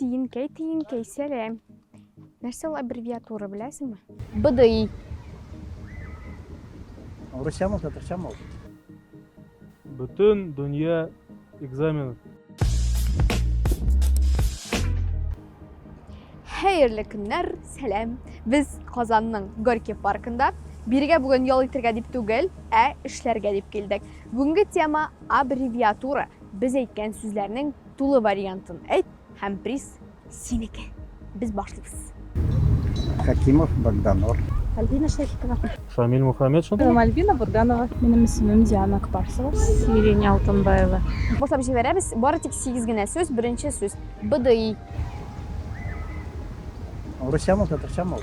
Тиенкәй, тиенкәй, сәләм. Нәрсә ул аббревиатура, беләсеңме? БДИ. Урысчамы, татарчамы ул? Бөтен дөнья экзамены. Хәерле көннәр, сәлам. Без Казанның Горький паркында. Бирегә бүген ял итергә дип түгел, ә эшләргә дип килдек. Бүгенге тема аббревиатура. Без әйткән сүзләрнең Тулы вариантын әйт һәм приз синеке. Без башлыйбыз. Хәкимов Богданор. Альбина Шәрипова. Шамиль Мухаметшин. Һәм Альбина Бурганова. Минем исемем Диана Акбарсова. Сирень Алтынбаева. Башлап җибәрәбез. Бары тик сигез генә сүз. Беренче сүз. БДИ. Русчамы ул, татарчамы ул?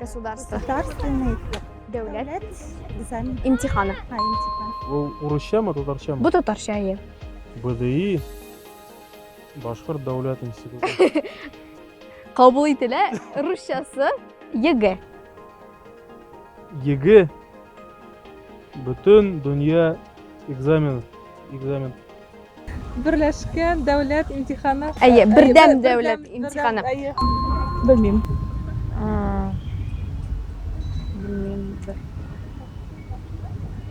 Государство. Государственный Дәүләт. дәүләт экзамен. Имтиханы. Ха, имтихан. Ул урысчамы, татарчамы? Бу татарча әйе. БДИ Башкорт дәүләт институты. Кабул ителә русчасы ЕГЭ. ЕГЭ бөтен дөнья экзамен экзамен Берләшкән дәүләт имтиханы. Әйе, бердәм дәүләт имтиханы. Белмим.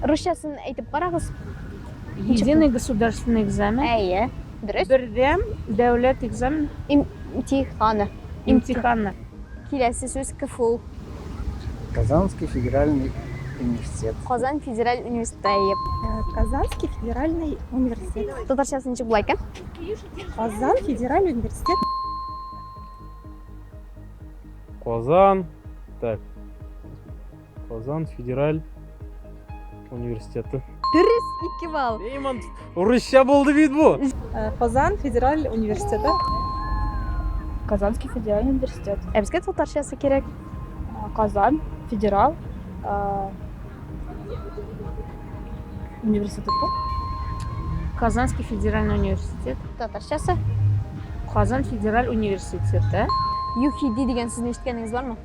Русчасын әйтеп карагыз. Единый государственный экзамен. Әйе, дөрес. Бердәм дәүләт экзамен. Имтиханы. Имтиханы. Киләсе сүз КФУ. Казанский федеральный университет. Казан федераль университет. Казанский федеральный университет. Татарчасы ничек була икән? Казан федераль университет. Казан. Так. Казан федераль университеты. Дөрес, ике балл. Нейман, урысча булды бит бу. Э, Казан федераль университеты. Казанский федеральный университет. Ә безгә татарчасы кирәк. Э, Казан федерал э, университеты. Казанский федеральный университет. Татарчасы. Казан федераль университеты. UFD дигән сүзне ишеткәнегез бармы?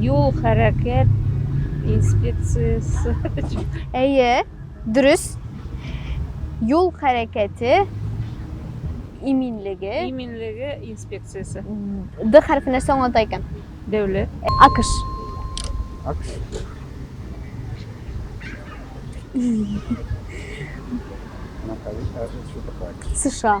Юл хәрәкәт инспекциясе. Әйе, дөрес. Юл хәрәкәте иминлеге. Иминлеге инспекциясе. Д хәрфе нәрсә аңлата икән? Дәүләт. Акыш. Акыш. США.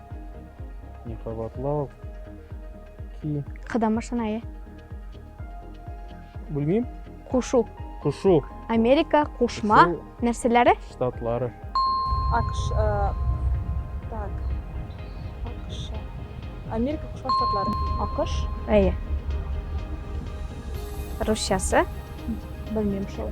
Не кабатлау. Ки. Кыдан башлана, е. Белмим. Кушу. Кушу. Америка, кушма. Нәрсәләре? Штатлары. Акш, э, так. Акш. Америка, кушма штатлары. Акш. Әйе. Русчасы. Белмим шул.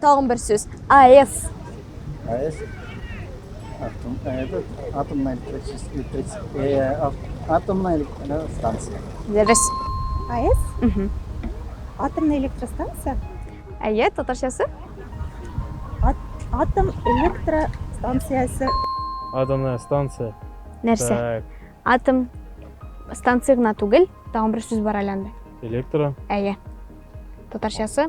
Тагын бер сүз. АЭС. АЭС. Атом, этот, атомная электрическая, э, атомная электростанция. Дәбес. АЭС? Угу. Атомная электростанция? Әйе, татарчасы? Ат, атом электростанциясе. Атомная станция. Нәрсә? Так. Атом станция гына түгел, тагын бер сүз бар әле анда. Электро. Әйе. Татарчасы?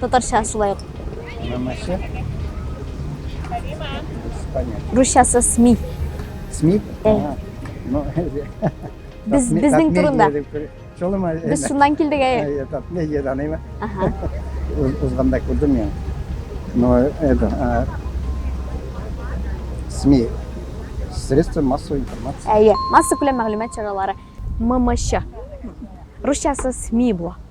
Татарча шулай ук. Намасе. Русчасы СМИ. СМИ? Ну, без безнең турында. Без шуннан килдек әй. Медиа даныймы? Ага. Узганда күрдем я. Но это СМИ средства массовой информации. Әйе, масса күләм мәгълүмат чаралары. ММЧ. Русчасы СМИ була.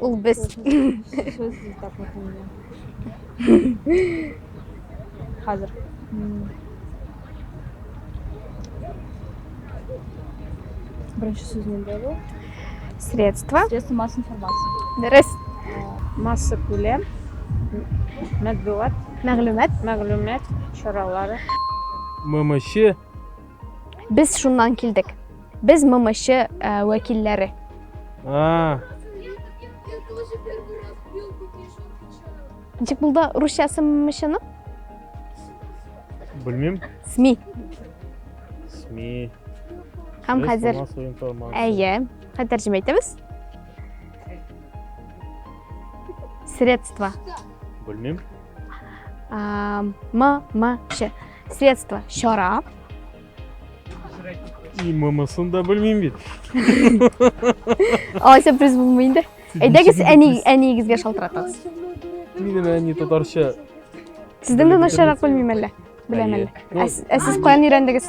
Ул без. Хәзер. Беренче сүз нинди ул? Средства. Средства масс информации. Дөрес. Масса күләм. Мәтбугат. Мәгълүмат. Мәгълүмат чаралары. ММЧ Без шуннан килдек. Без ММЧ э, вәкилләре. А. Ничек булды русчасы ММЧның? Белмим. СМИ. СМИ. Һәм хәзер Әйе, хәзер тәрҗемә итәбез. Средства. Белмим. А, м, м, ш. Средство чара. И мамасын да белмим бит. Алайса без булмый инде. Әйдәгез әни әниегезгә шалтыратыгыз. Минем әни татарча. Сездән дә начаррак белмим әллә. Беләм әллә. Ә сез каян өйрәндегез?